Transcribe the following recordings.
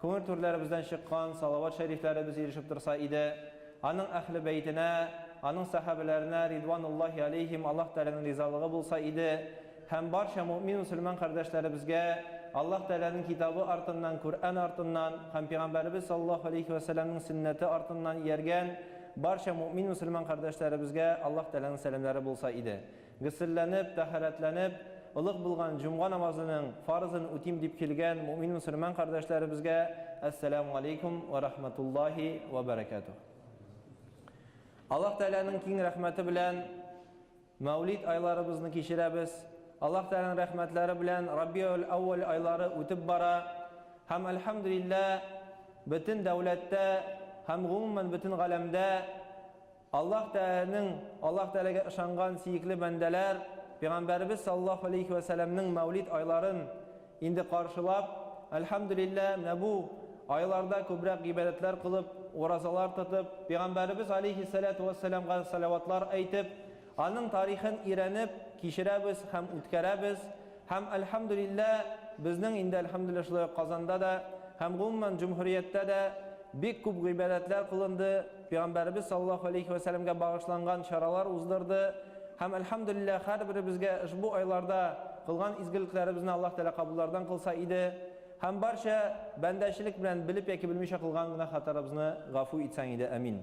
Күңел түрләребездән чыккан салават шәрифләребез ирешеп торса иде, аның Әһле бәйтенә, аның сәхабәләренә, ридвануллаһи алейһим, Аллаһ Тәгаләнең ризалыгы булса иде, һәм барча мөэмин-мөселман кардәшләребезгә Аллаһ Тәгаләнең Китабы артыннан, Күръән артыннан һәм Пигамбәребез саллаллаһу алейһи вә сәлләмнең сөннәте артыннан ияргән барча мөэмин-мөселман кардәшләребезгә Аллаһ Тәгаләнең сәламнәре булса иде. Гөселләнеп, тәһарәтләнеп, олуг булган җомга намазының фарызын үтим дип килгән мөэмин-мөселман кардәшләребезгә Әссәләмү галәйкүм вә рахмәтуллаһи вә бәрәкәтүһ. Аллаһ Тәгаләнең киң рәхмәте белән Мәүлид айларыбызны кичерәбез. Аллаһ Тәгаләнең рәхмәтләре белән Рабиәүл-әүвәл айлары үтеп бара. Һәм, әлхәмдүлилләһ, бөтен дәүләттә һәм, гомумән, бөтен галәмдә Аллаһ Тәгаләнең Аллаһ Тәгаләгә ышанган сөекле бәндәләр Пәйгамбәребез саллаллаһу алейһи вә сәлләмнең мәүлид айларын инде каршылап, әлхәмдүлилләһ, менә бу айларда күбрәк гыйбадәтләр кылып, уразалар тотып, Пәйгамбәребез алейһи сәләтү вә сәләмгә сәләватлар әйтеп, аның тарихын өйрәнеп, кичерәбез һәм үткәрәбез. Һәм, әлхәмдүлилләһ, безнең инде, әлхәмдүлилләһ, шулай ук Казанда да һәм, гомумән, җөмһүрияттә дә бик күп гыйбадәтләр кылынды, пәйгамбәребез саллаллаһу алейһи вә сәлләмгә багышланган чаралар уздырды. Һәм, әлхәмдүлилләһ, һәрберебезгә ошбу айларда кылган изгелекләребезне Аллаһ Тәгалә кабуллардан кылса иде. Һәм барча бәндәчелек белән белеп яки белмичә кылган гөнаһ-хаталарыбызны гафу итсәң иде. Әмин.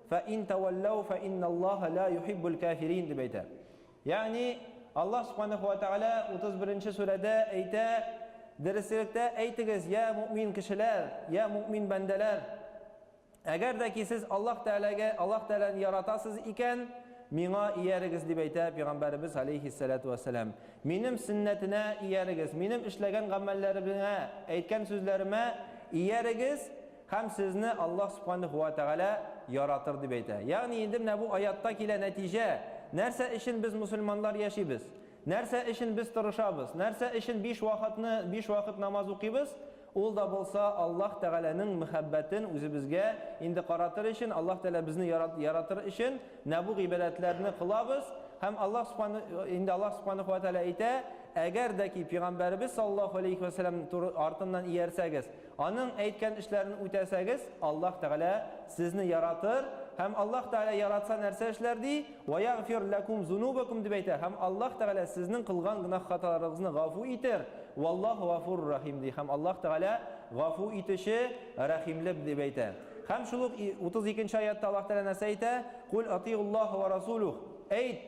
Фә ин тәвәлләү фә инналлаһа лә юхиббул кәфирин, дип әйтә. Ягъни, Аллаһ Субханаһу ва Тәгалә 31 нче сүрәдә әйтә, Дөресрәктә әйтегез, йә мөэмин кешеләр, йә мөэмин бәндәләр, әгәр дә ки сез Аллаһ Тәгаләгә, Аллаһ Тәгаләне яратасыз икән, миңа иярегез, дип әйтә Пәйгамбәребез галәйһиссәләтү вәссәлам. Минем сөннәтенә иярегез, минем эшләгән гамәлләремә, әйткән сүзләремә иярегез, Һәм сезне Аллаһ Субханаһу ва Тәгалә яратыр дип әйтә. Ягъни инде менә бу аятта килә нәтиҗә, нәрсә өчен без мөселманнар яшибез, нәрсә өчен без тырышабыз, нәрсә өчен биш вакытны биш вакыт намаз укыйбыз, ул да булса Аллаһ Тәгаләнең мәхәббәтен үзебезгә инде каратыр өчен, Аллаһ Тәгалә безне яратыр өчен менә бу гыйбадәтләрне кылабыз. Һәм Аллаһ Субханаһу инде Аллаһ Субханаһу ва Тәгалә әйтә, Әгәр дә ки пигамбәребез саллаллаһу галәйһи ва сәлләм артыннан иярсәгез, Аның әйткән эшләрен үтәсәгез, Аллаһ Тәгалә сезне яратыр, һәм Аллаһ Тәгалә яратса нәрсә эшләр ди? Вә ягъфир ләкум зунубакум дип әйтә, һәм Аллаһ Тәгалә сезнең кылган гөнаһ-хаталарыгызны гафу итер, валлаһу гафурур рәхим ди, һәм Аллаһ Тәгалә гафу итүче, рәхимле дип әйтә. Һәм шул ук 32 нче аятта Аллаһ Тәгалә нәрсә әйтә? Куль атиуллаһа вә расулүх. Әйт,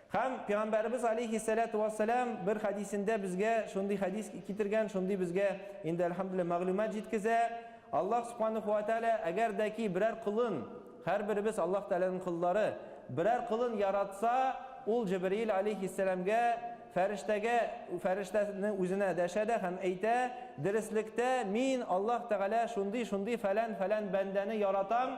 Һәм Пәйгамбәребез алейхиссәләтү вәссәлам бер хәдисендә безгә шундый хәдис китергән, шундый безгә инде әлхәмдүлилләһ мәгълүмат җиткезә. Аллаһ субханаһу ва тәгалә әгәр дә ки берәр колын, һәрберебез Аллаһ Тәгаләнең коллары, берәр колын яратса, ул Җибриил алейхиссәламгә, фәрештәгә, фәрештәне үзенә дәшә дә һәм әйтә, Дөреслектә мин, Аллаһ Тәгалә, шундый-шундый фәлән-фәлән бәндәне яратам,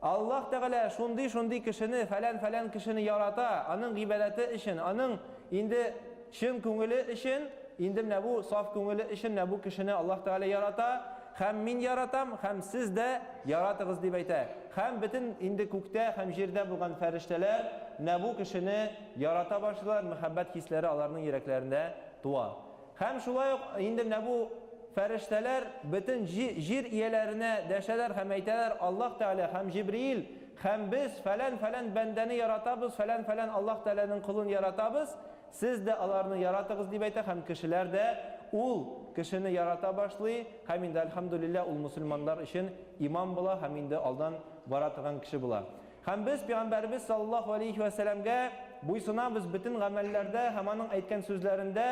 Аллаһ Тәгалә шундый-шундый кешене, фәлән-фәлән кешене ярата, аның гыйбадәте өчен, аның инде чын күңеле өчен, инде менә бу саф күңеле өчен менә бу кешене Аллаһ Тәгалә ярата, һәм мин яратам, һәм сез дә яратыгыз дип әйтә. Һәм бөтен инде күктә һәм җирдә булган фәрештәләр менә бу кешене ярата башлыйлар, мәхәббәт хисләре аларның йөрәкләрендә туа. Һәм шулай ук инде менә бу фәрештәләр бөтен җир ияләренә дәшәләр һәм әйтәләр, Аллаһ Тәгалә һәм Җибриил һәм без фәлән-фәлән бәндәне яратабыз, фәлән-фәлән Аллаһ Тәгаләнең колын яратабыз, сез дә аларны яратыгыз, дип әйтә һәм кешеләр дә ул кешене ярата башлый һәм инде, әлхәмдүлилләһ, ул мөселманнар өчен имам була һәм инде алдан бара торган кеше була. Һәм без Пәйгамбәребез салләллаһу галәйһи вә сәламгә буйсынабыз бөтен гамәлләрдә һәм аның әйткән сүзләрендә,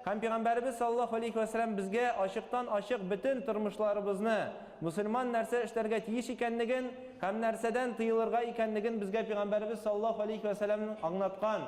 һәм Пәйгамбәребез салләллаһу галәйһи вә сәлам безгә ачыктан-ачык бөтен тормышларыбызны, мөселман нәрсә эшләргә тиеш икәнлеген һәм нәрсәдән тыелырга икәнлеген безгә Пәйгамбәребез салләллаһу галәйһи вә сәламнең аңнаткан.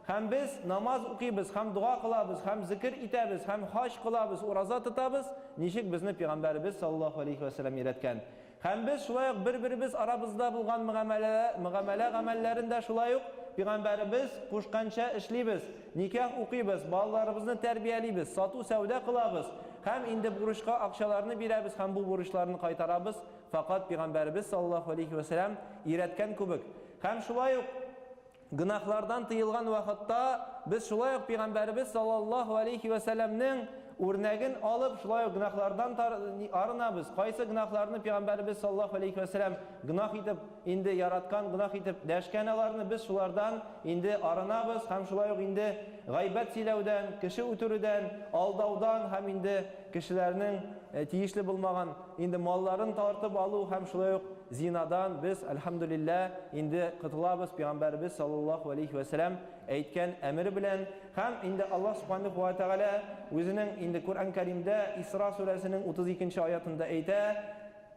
Һәм без намаз укыйбыз һәм дога кылабыз һәм зекер итәбез һәм хаҗ кылабыз, ураза тотабыз, ничек безне Пәйгамбәребез салләллаһу галәйһи вә сәлам өйрәткән. Һәм без шулай ук бер-беребез арабызда булган мөгамәлә гамәлләрен дә шулай ук Пигамбәребез кушканча эшлибез, никах укыйбыз, балаларыбызны тәрбиялибез, сату-сәүдә кылабыз һәм инде бурычка акчаларны бирәбез һәм бу бурычларны кайтарабыз, факат Пигамбәребез саллаллаһу алейһи вә сәлам өйрәткән күбек. Һәм шулай ук Гөнаһлардан тыелган вакытта без шулай ук пигамбәребез саллаллаһу алейхи вә сәлләмнең үрнәген алып, шулай ук гөнаһлардан арынабыз. Кайсы гөнаһларны пигамбәребез саллаллаһу алейхи вә сәлләм гөнаһ итеп инде яраткан, гөнаһ итеп дәшкән аларны без шулардан инде арынабыз һәм шулай ук инде гайбәт сөйләүдән, кеше үтерүдән, алдаудан һәм инде Кешеләрнең тиешле булмаган инде малларын тартып алу һәм шулай ук зинадан без, әлхәмдүлиллә, инде котылабыз, пигамбәребез саллаллаһу галәйһи вә сәлам әйткән әмер белән. Һәм инде Аллаһ субханаһу вә тәгалә үзенең инде Коръән Кәримдә Исра сүрәсенең 32 нче аятында әйтә,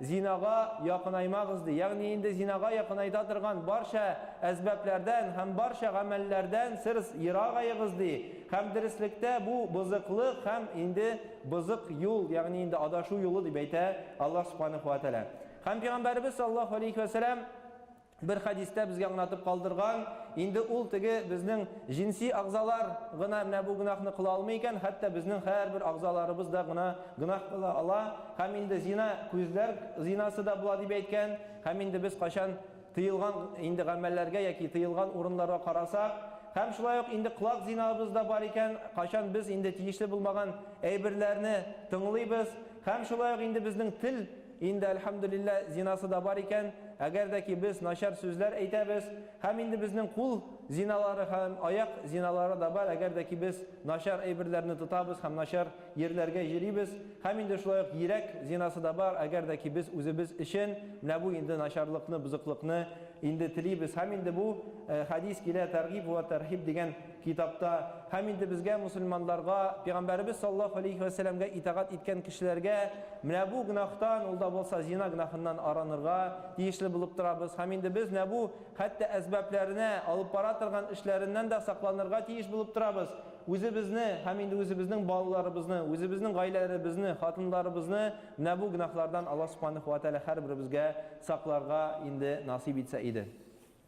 Зинага якынаймагыз, ди. Ягъни инде зинага якынайта торган барча әсбапләрдән һәм барча гамәлләрдән серс ерагаегыз, ди. Һәм дөреслектә бу бозыклык һәм инде бозык юл, ягъни инде адашу юлы, дип әйтә Аллаһ Субханәһү вә Тәгалә. Һәм Пәйгамбәребез саллаллаһу алейһи вә сәлам бер хәдистә безгә аңлатып калдырган, инде ул теге безнең җинси агъзалар гына менә бу гөнаһны кыла алмый икән, хәтта безнең һәрбер агъзаларыбыз да гына гөнаһ кыла ала, һәм инде зина күзләр зинасы да була дип әйткән, һәм инде без кайчан тыелган инде гамәлләргә яки тыелган урыннарга карасак, һәм шулай ук инде колак зинабыз да бар икән, кайчан без инде тиешле булмаган әйберләрне тыңлыйбыз, һәм шулай ук инде безнең тел Инде, әлхәмдүлиллә, зинасы да бар икән, әгәр дә ки без начар сүзләр әйтәбез, һәм инде безнең кул зиналары һәм аяк зиналары да бар, әгәр дә ки без начар әйберләрне тотабыз һәм начар йирләргә йөрибез, һәм инде шулай ук йирәк зинасы да бар, әгәр дә ки без үзебез өчен менә бу инде начарлыкны, бозыклыкны инде телибез, һәм инде бу хәдис килә, тәргиб вә тәрһиб дигән Китапта, Һәм инде безгә, мөселманларга, пигамбәребез саллаллаһу галәйһи вә сәләмгә итагать иткән кешеләргә, менә бу гөнаһтан, ул да булса зина гөнаһыннан аранырга тиешле булып торабыз, һәм инде без нә бу, хәтта әсбапләренә, алып бара торган эшләреннән дә сакланырга тиеш булып торабыз, үзебезне, һәм инде үзебезнең балаларыбызны, үзебезнең гаиләләребезне, хатыннарыбызны менә бу гөнаһлардан Аллаһ субханәһү вә тәгалә һәрберебезгә сакларга инде насыйп итсә иде.